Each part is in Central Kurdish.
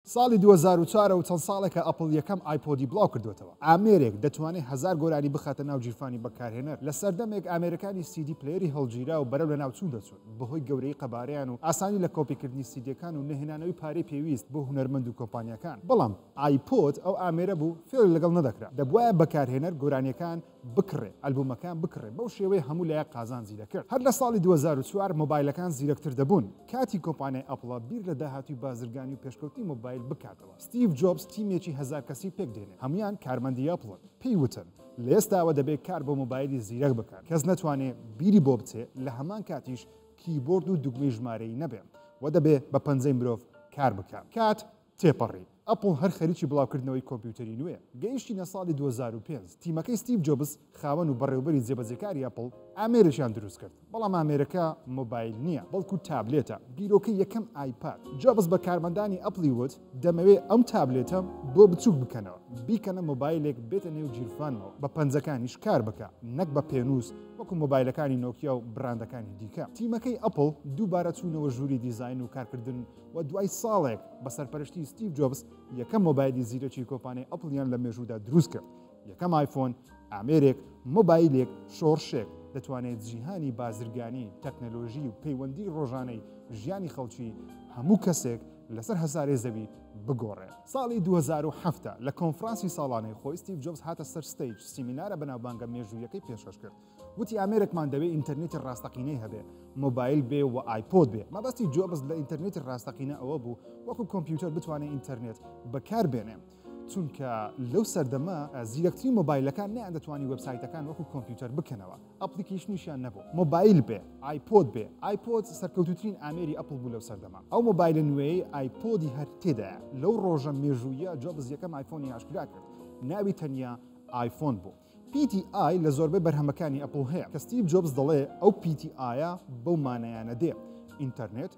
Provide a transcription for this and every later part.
ساڵی دوو هەزار و چوار و چەند ساڵێکە ئەپڵ یەکەم ئایپۆدی بڵاو کردووەتەوە. ئامێرێک دەتوانێت هەزار گۆرانی بخاتە ناو گیرفانی بەکارهێنەر. لە سەردەمێک ئامێرەکانی سیدی پلەیەری هەڵگیراو بەرەو لەناوچوون دەچوون، بەهۆی گەورەیی قەبارەیان و ئاسانی لە کۆپیکردنی سیدیەکان و نەهێنانەوەی پارەی پێویست بۆ هونەرمەند و کۆمپانیاکان. بەڵام ئایپۆد ئەو ئامێرە بوو فێڵی لەگەڵ نەدەکرا. دەبوایە بەکارهێنەر گۆرانیەکان بکڕێ ئەلبومەکان بکڕێ بەو شێوەیە هەموو لایەک قازانجی دەکرد هەر لە ساڵی دوو هەزار و چوار مۆبایلەکان زیرەکتر دەبوون کاتی کۆمپانیای ئەپڵە بیر لە داهاتووی بازرگانی و پێشکەوتنی مۆبایل بکاتەوە ستیڤ جۆبس تیمێکی هەزار کەسی پێک دێنێ هەموویان کارمەندی ئەپڵن پێی وتن لە ئێستاوە دەبێ کار بۆ مۆبایلی زیرەک بکات کەس نەتوانێ بیری بۆ بچێ لە هەمان کاتیش کیبۆرد و دوگمەی ژمارەیی نەبێ و دەبێ بە پەنجەی مرۆڤ کار بکا کات تێپەڕی، ئەپڵ هەر خەریکی بڵاوکردنەوەی کۆمپیوتەری نوێیە. گەیشتینە ساڵی دوو هەزار و پێنج، تیمەکەی ستیڤ جۆبس، خاوەن و بەڕێوبەری جێبەجێکاری ئەپڵ، ئامێرێکیان دروستکرد. بەڵام ئامێرەکە مۆبایل نییە، بەڵکو تابلێتە، بیرۆکەی یەکەم ئایپاد. جۆبس بە کارمەندانی ئەپڵی وت، دەمەوێت ئەم تابلێتەم بۆ بچووک بکەنەوە، بیکەنە مۆبایلێک بێتە نێو گیرفانمەوە، بە پەنجەکانیش کار بکا، نەک بە پێنووس وەکو مۆبایلەکانی نۆکیا و بڕاندەکانی دیکە. تیمەکەی ئەپڵ دووبارە چوونەوە ژووری دیزاین و کارکردن، و دوای ساڵێک بە سەرپەرشتی ستیڤ جۆبس یەکەم مۆبایلی زیرەکی کۆپانەی ئەپڵیان لە مێژوودا دروست کرد یەکەم ئایفۆن ئامێرێک مۆبایلێک شۆڕشێک دەتوانێت جیهانی بازرگانی تەکنەلۆژی و پەیوەندی ڕۆژانەی ژیانی خەڵکی هەموو کەسێک لەسەر هەزارێ زەوی بگۆڕێت ساڵی 2007 لە کۆنفرانسی ساڵانەی خۆی ستیڤ جۆبس هاتە سەر ستەیج سیمینارە بەناوبانگە مێژوویەکەی پێشکەش کرد وتی ئامێرێکمان دەوێ ئینتەرنێتی ڕاستەقینەی هەبێ مۆبایل بێ و ئایپۆد بێ مەبەستی جۆبز لە ئینتەرنێتی ڕاستەقینە ئەوە بوو وەکو کۆمپیوتەر بتوانێت ئینتەرنێت بەکار بێنێ چونکە لەو سەردەمە زیرەکترین مۆبایلەکان نیان دەتوانی وبسایتەکان وەکو کۆمپیوتەر بکەنەوە ئەپلیکیش نیشان نەبوو مۆبایل بێ ئایپۆد بێ ئایپۆد سەرکەوتوترین ئامێری ئەپل بوو لەو سەردەما ئەو مۆبایلە نوێی ئایپۆدی هەر تێدا لەو ڕۆژە مێژوویە جۆبز یەکەم ئایفۆنی ئاشکرا کرد ناوی تەنیا ئایفۆن بوو پی تی ئای لە زۆربەی بەرهەمەکانی ئەپڵ هەیە کە ستیڤ جۆبس دەڵێ ئەو پی تی ئایە بەو مانایانە دێ، ئینتەرنێت،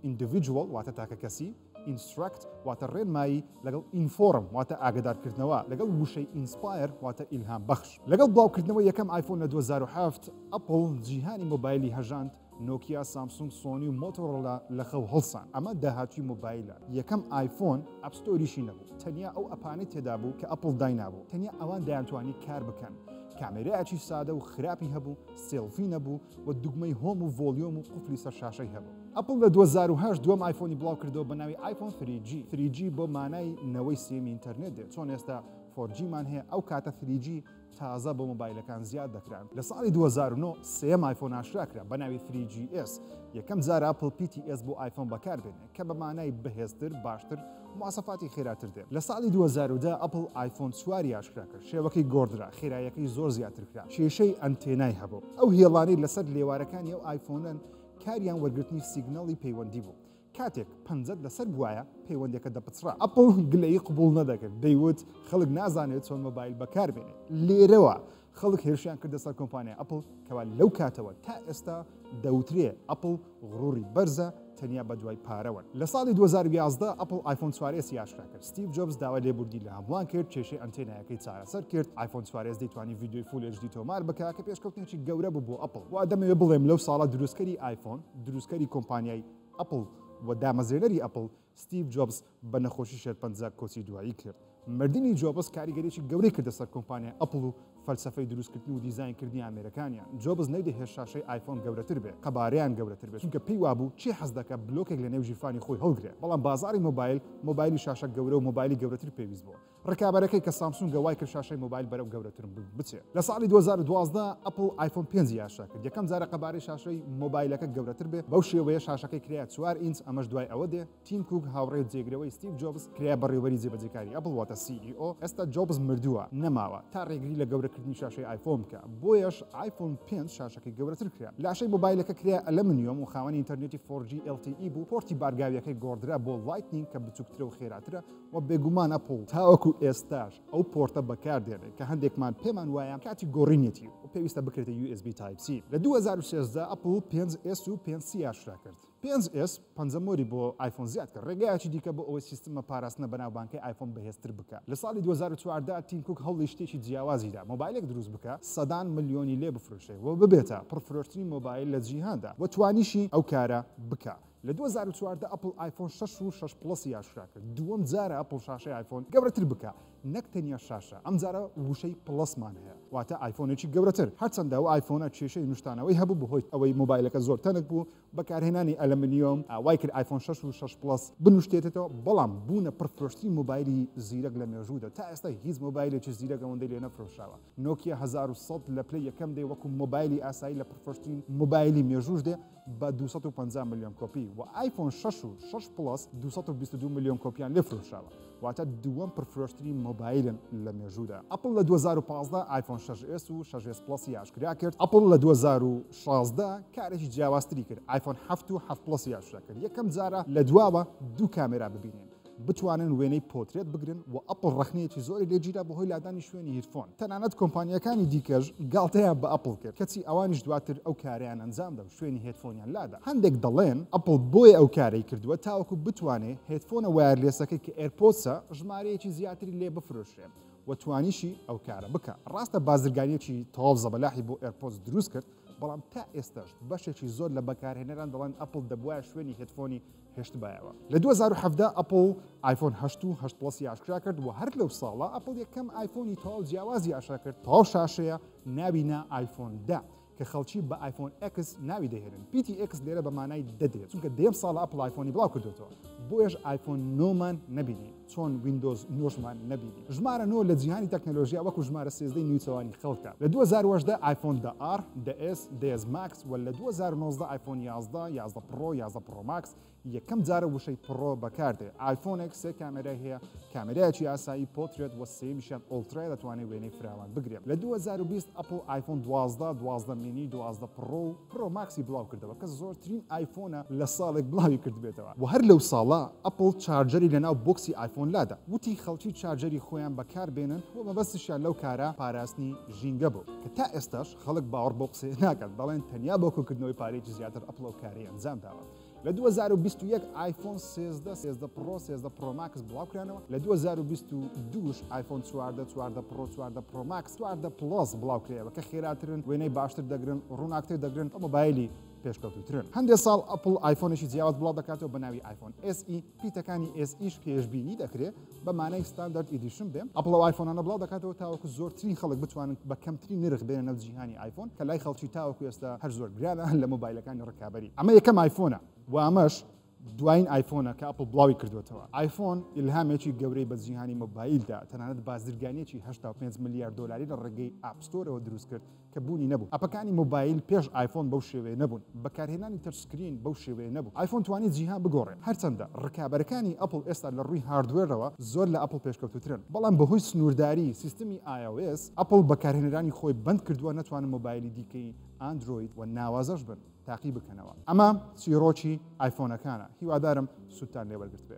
Individual، واتە تاکەکەسی، Instruct، واتە ڕێنمایی، لەگەڵ Inform، واتە ئاگەدارکردنەوە، لەگەڵ وشەی Inspire، واتە ئیلهامبەخش. لەگەڵ بڵاوکردنەوەی یەکەم ئایفۆن لە دوو هەزار و حەفت، ئەپڵ جیهانی مۆبایلی هەژاند، نۆکیا، سامسونگ، سۆنی و مۆتۆرۆلا لە خەو هەڵسان. ئەمە داهاتووی مۆبایلە. یەکەم ئایفۆن ئەپ ستۆریشی نەبوو. تەنیا ئەو ئەپانەی تێدا بوو کە ئەپڵ داینابوو. تەنیا ئەوان دەیانتوانی کار بکەن. کامێرایەکی سادە و خراپی هەبوو، سێڵفی نەبوو و دوگمەی هۆم و ڤۆلیۆم و قفلی سەر شاشەی هەبوو. ئەپڵ لە دوو هەزار و هەشت دووەم ئایفۆنی بڵاو کردەوە بە ناوی ئایفۆن ثری جی. ثری جی بۆ مانای نەوەی سێمی ئینتەرنێت دێت. چۆن ئێستا فۆر جیمان هەیە، ئەو کاتە ثری جی. تازە بۆ مۆبایلەکان زیاد دەکران لە ساڵی دوو هەزار و نۆ سێیەم ئایفۆن ئاشکرا کرا بە ناوی فری جی ئێس یەکەم جار ئەپڵ پی تی ئێس بۆ ئایفۆن بەکار بێنێ کە بە مانای بەهێزتر باشتر مواسەفاتی خێراتر دێ لە ساڵی دوو هەزار و دە ئەپڵ ئایفۆن چواری ئاشکرا کرد شێوەکەی گۆڕدرا خێرایەکەی زۆر زیاتر کرا کێشەی ئەنتێنای هەبوو ئەو هێڵانەی لەسەر لێوارەکانی ئەو ئایفۆنەن کاریان وەرگرتنی سیگنەڵی پەیوەندی بوو کاتێک پەنجەت لەسەر بوایە پەیوەندەکە دەپچڕا ئەپڵ گلەیی قبول نەدەکرد دەیوت خەڵک نازانێت چۆن مۆبایل بەکاربێنێت لێرەوە خەڵک هێرشیان کردە سەر کۆمپانیا ئەپڵ کەوا لەو کاتەوە تا ئێستا دەوترێ ئەپڵ غڕوری بەرزە تەنیا بە دوای پارەوەن لە ساڵی 2011 ئەپل ئایفۆن سوارێسی یاشرا کرد ستیو جۆبز داوا لێبوردی لە هەمووان کرد کێشەی ئەنتێنایەکەی چارەسەر کرد ئایفۆن سوارێز دەیتوانی ویددیوی فولێژدی تۆمار بکە کە پێشکەوتنێکی گەورە بوو بۆ ئەپل وا دەمەوێ بڵێم لەو ساڵە دروستکەری ئایفۆن دروستکەری کۆمپانیای ئەپڵ، و دامەزرێنەری ئەپڵ، ستیڤ جۆبس، بە نەخۆشی شێرپەنجە کۆچی دوایی کرد. مردنی جۆبس کاریگەریی گەورەی کردە سەر کۆمپانیای ئەپڵ و فەلسەفەی دروستکردن و دیزاینکردنی ئامێرەکانیان. جۆبس نەیدەهێشت شاشەی ئایفۆن گەورەتر بێت، قەبارەیان گەورەتر بێت، چونکە پێی وابوو چی حەز دەکات بلۆکێک لەنێو گیرفانی خۆی هەڵگرێت. بەڵام بازاڕی مۆبایل، مۆبایلی شاشە گەورە و مۆبایلی گەورەتر پێویست بووە. ڕکابەرەکەی کە سامسونگە وای کرد شاشەی مۆبایل بەرەو گەورەتر بچێت. لە ساڵی دوو هەزار و دوازدە ئەپڵ ئایفۆن پێنج یاشا کرد یەکەم جارە قەبارەی شاشەی مۆبایلەکە گەورەتر بێت، بەو شێوەیە شاشەکەی کرایە چوار ئینچ ئەمەش دوای ئەوە دێ تیم کووک هاوڕێ و جێگرەوەی ستیڤ جۆبز کرایە بەڕێوەبەری جێبەجێکاری ئەپڵ واتە CEO، ئێستا جۆبز مردووە نەماوە تا ڕێگری لە گەورەکردنی شاشەی ئایفۆن بکا بۆیەش ئایفۆن پێنج شاشەکەی گەورەتر کرا. لاشەی مۆبایلەکە کرایە ئەلەمنیۆم و خاوەنی ئینتەرنێتی فۆر جی LTE بوو، پۆرتی بارگاویەکەی گۆڕدرا بۆ لایتنینگ کە بچووکترە و خێراترە، وە بێگومان ئەپڵ تاوەکو ئێستاش ئەو پۆرتە بەکاردێنێت کە هەندێکمان پێمان وایە کاتی گۆڕینیەتی و پێویستە بکرێتە USB Type C لە دوو هەزار و سێزدە ئەپڵ پێنج ئێس و پێنج سی ئاشکرا کرد پێنج ئێس پەنجە مۆری بۆ ئایفۆن زیاد کرد ڕێگایەکی دیکە بۆ ئەوەی سیستمە پاراستنە بەناوبانکەی ئایفۆن بەهێزتر بکات لە ساڵی دوو هەزار و چواردە تیم کوک هەوڵی شتێکی جیاوازیدا مۆبایلێک دروست بکە سەدان ملیۆنی لێ بفرۆشێ و ببێتە پڕفرۆشترین مۆبایل لە جیهاندا و توانیشی ئەو کارە بکات لە دوو هەزار و چواردە ئەپڵ ئایفۆن شەش و شەش پڵەسی ئاشکرا کرد، دووەم جارە ئەپڵ شاشەی ئایفۆن گەورەتر بکا، نەک تەنیا شاشە، ئەمجارە وشەی پڵەسمان هەیە، واتە ئایفۆنێکی گەورەتر، هەرچەندە ئەو ئایفۆنە کێشەی نوشتانەوەی هەبوو بەهۆی ئەوەی مۆبایلەکە زۆر تەنک بوو، بەکارهێنانی ئەلەمنیۆم وای کرد ئایفۆن شەش و شەش پڵەس بنوشتێتەتەوە، بەڵام بوونە پڕفرۆشترین مۆبایلی زیرەک لە مێژوودا، تا ئێستا هیچ مۆبایلێکی زیرەک ئەوەندەی لێ نەفرۆشراوە، نۆکیا هەزار و سەد لە پلەی یەکەم دێ، وەکو مۆبایلی ئاسایی لە پڕفرۆشترین مۆبایلی مێژووش دێ. بە دوو سەد و پەنجا ملیۆن کۆپی و ئایفۆن شەش و شەش پڵەس دوو سەد و بیست و دوو ملیۆن کۆپییان لێ فرۆشراوە، واتە دووەم پڕفرۆشترین مۆبایلن لە مێژوودا. ئەپڵ لە دوو هەزار و پازدە ئایفۆن شەش ئێس و شەش ئێس پڵەسی ئاشکرا کرد. ئەپڵ لە دوو هەزار و شازدە کارێکی جیاوازتری کرد، ئایفۆن حەفت و حەفت پڵەسی ئاشکرا کرد. یەکەم جارە لە دواوە دوو کامێرا ببینین. بتوانن وێنەی پۆترێت بگرن و ئەپڵ ڕەخنەیەکی زۆری لێ گیرا بەهۆی لادانی شوێنی هیرفۆن تەنانەت کۆمپانیاکانی دیکەش گاڵتەیان بە ئەپڵ کرد کەچی ئەوانیش دواتر ئەو کارەیان ئەنجامدا و شوێنی هێدفۆنیان لادا هەندێک دەڵێن ئەپڵ بۆیە ئەو کارەی کردووە تاوەکو بتوانێ هێدفۆنە وایەرلێسەکەی کە ئێرپۆدسە ژمارەیەکی زیاتری لێ بفرۆشرێ و توانیشی ئەو کارە بکا ڕاستە بازرگانیەکی تەواو زەبەلاحی بۆ ئێرپۆدس دروست کرد بەڵام تا ئێستاش بەشێکی زۆر لە بەکارهێنەران دەڵێن ئەپڵ دەبوایە شوێنی هێدفۆنی هێشتبایەوە. لە دوو هەزار و حەڤدە ئەپڵ ئایفۆن هەشت و هەشت پڵەسی ئاشکرا کرد و هەر لەو ساڵە ئەپڵ یەکەم ئایفۆنی تەواو جیاوازی ئاشکرا کرد تەواو شاشەیە ناوی نا ئایفۆن دە کە خەڵکی بە ئایفۆن ئەکس ناوی دەهێنن پیتی ئەکس لێرە بە مانای دەدرێت چونکە دەیەم ساڵە ئەپڵ ئایفۆنی بڵاو کردوێتەوە بۆیەش ئایفۆن نۆمان نەبینی چۆن ویندۆز نۆشمان نەبینی؟ ژمارە نۆ لە جیهانی تەکنەلۆژیا وەکو ژمارە سێزدەی نیوچەوانی خەڵکە. لە دوو هەزار و هەژدە ئایفۆن دە ئاڕ، دە ئێس، دە ئێس ماکس و لە دوو هەزار و نۆزدە ئایفۆن یازدە، یازدە پڕۆ، یازدە پڕۆ ماکس یەکەم جارە وشەی پڕۆ بەکاردێ. ئایفۆنێک سێ کامێرای هەیە، کامێرایەکی ئاسایی، پۆترێت و سێیەمیشیان ئۆڵترایە دەتوانێ وێنەی فراوان بگرێ. لە دوو هەزار و بیست ئەپڵ ئایفۆن دوازدە، دوازدە مینی، دوازدە پڕۆ و. پرۆ ماکسی بڵاو کردەوە کە زۆرترین ئایفۆنە لە ساڵێک بڵاوی کردبێتەوە وە هەر لەو ساڵە ئەپڵ چارجەری لە ناو بۆکسی ئایفۆن لادا وتی خەڵکی چارجەری خۆیان بەکار بێنن وە مەبەستشیان لەو کارە پاراستنی ژینگە بوو کە تا ئێستاش خەڵک باوەڕ بەو قسەیە ناکات دەڵێن تەنیا بۆ کۆکردنەوەی پارەیەکی زیاتر ئەپڵ ئەو کارەی ئەنجام داوە. لە دوو هەزار و بیست و یەک ئایفۆن سێزدە سێزدە پڕۆ سێزدە پڕۆماکس بڵاوکرانەوە لە دوو هەزار و بیست و دووش ئایفۆن چواردە چواردە پڕۆ چواردە پڕۆماکس چواردە پڵۆس بڵاوکرێەوە کە خێراترن وێنەی باشتر دەگرن ڕووناکتر دەگرن ئەو مۆبایلی پێشکەوتوترن هەندێک ساڵ ئەپل ئایفۆنێکی جیاواز بڵاو دەکاتەوە بە ناوی ئایفۆن SE پیتەکانی SEش پێشببینی دەکرێت بە مانای ستاندارد ئیدیشن بێ ئەپڵ ئەو ئایفۆنانە بڵاو دەکاتەوە تاوەکو زۆرترین خەڵک بتوانن بە کەمترین نرخ بێنە نەو جیهانی ئایفۆن کە لای خەڵکی تاوەکو ئێستا هەر زۆر گرانە لە مۆبایلەکانی ڕکابەری ئەمە یەکەم ئایفۆنە و ئەمەش دوایین ئایفۆنە کە ئەپڵ بڵاوی کردووەتەوە ئایفۆن ئیلهامێکی گەورەی بە جیهانی مۆبایلدا تەنانەت بازرگانیەکی هەشتا و پێنج ملیار دۆلاری لە ڕێگەی ئاپ ستۆرەوە دروست کرد کە بوونی نەبوو ئەپەکانی مۆبایل پێش ئایفۆن بەو شێوەیە نەبوون بەکارهێنانی تەچ سکرین بەو شێوەیە نەبوو ئایفۆن توانی جیهان بگۆڕێ هەرچەندە ڕکابەرەکانی ئەپڵ ئێستا لە ڕووی هاردوێرەوە زۆر لە ئەپڵ پێشکەوتووترن بەڵام بەهۆی سنوورداری سیستمی ios ئەپڵ بەکارهێنەرانی خۆی بەند کردووە نەتوانن مۆبایلی دیکەی ئاندرۆید و ناوازەش بن تاقی بکەنەوە ئەمە چیڕۆکی ئایفۆنەکانە هیوادارم سوودتان لێ وەرگرتبێ.